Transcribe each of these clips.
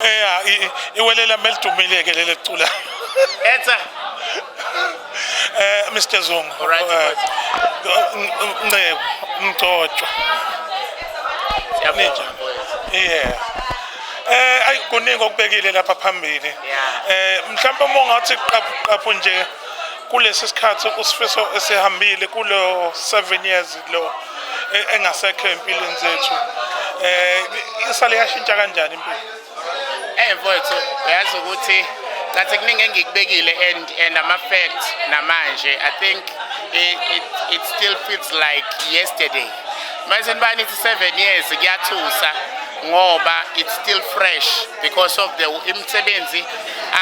eya i- iwelela melidumile ke leli cula Etsa. eh Mr Zungu Alright, eh, n- n- Nceku Mgcotshwa Siyabonga, mfowethu. yeah eh ayi kuningi okubekile lapha phambili Yeah. eh mhlawumbe uma ungathi qaphu qaphu nje kulesi sikhathi usifiso esihambile kulo 7 years lo e, engasekho empilweni zethu eh isale yashintsha kanjani impilo eh mfowethu uyazi ukuthi ngathi kuningi engikubekile and and ama facts namanje i think it, it, it still feels like yesterday manje nibani ithi 7 years kuyathusa ngoba it's still fresh because of the imisebenzi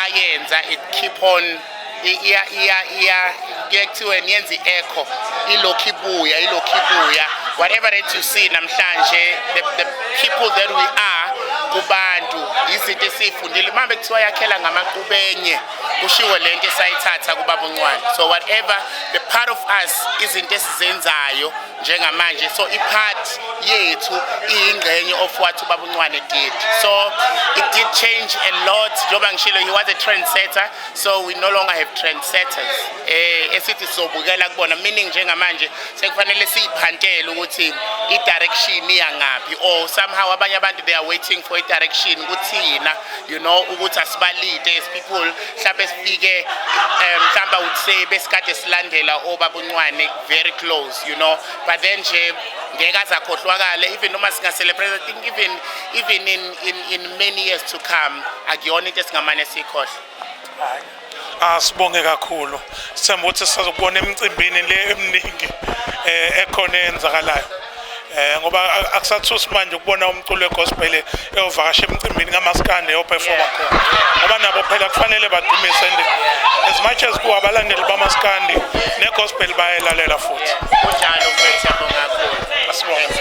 ayenza it keep on iya iya iya kuye kuthiwe niyenza i-echo ilokhu ibuya ilokhu ibuya whatever that you see namhlanje the, the people that we are kubantu izinto esiyifundile uma bekuthiwa yakhela ngamaqubenye kushiwo le nto esayithatha kubabuncwane so whatever the part of us izinto esizenzayo njengamanje so ipart yethu iyingxenye of what ubaba uncwane did so it did change a lot njengoba ngishilo he was a trendsetter so we no longer have trendsetters eh esithi sobukela kubona meaning njengamanje sekufanele siyiphantele ukuthi i-direction iyangaphi or somehow abanye abantu they are waiting for i-direction kuthina you know ukuthi asibalide as people mhlawumbe sifike um mhlawumbe awuthi sebesikade silandela obaba Nqwane very close you know but then nje ngeke azakhohlwakale even uma singa celebrate i think even even in in in many years to come akuyona into esingamane sikhohle asibonge kakhulu sithemba ukuthi sizokubona emicimbini le eminingi eh ekhona eyenzakalayo eh ngoba akusathusi manje ukubona umculo wegospel eyovakasha emcimbini kamaskande yoperforma khona ngoba nabo phela kufanele badumise and as much as kuwa abalandeli bamaskandi negospel bayelalela futhi kunjalo mfethu yabonga kakhulu asibonge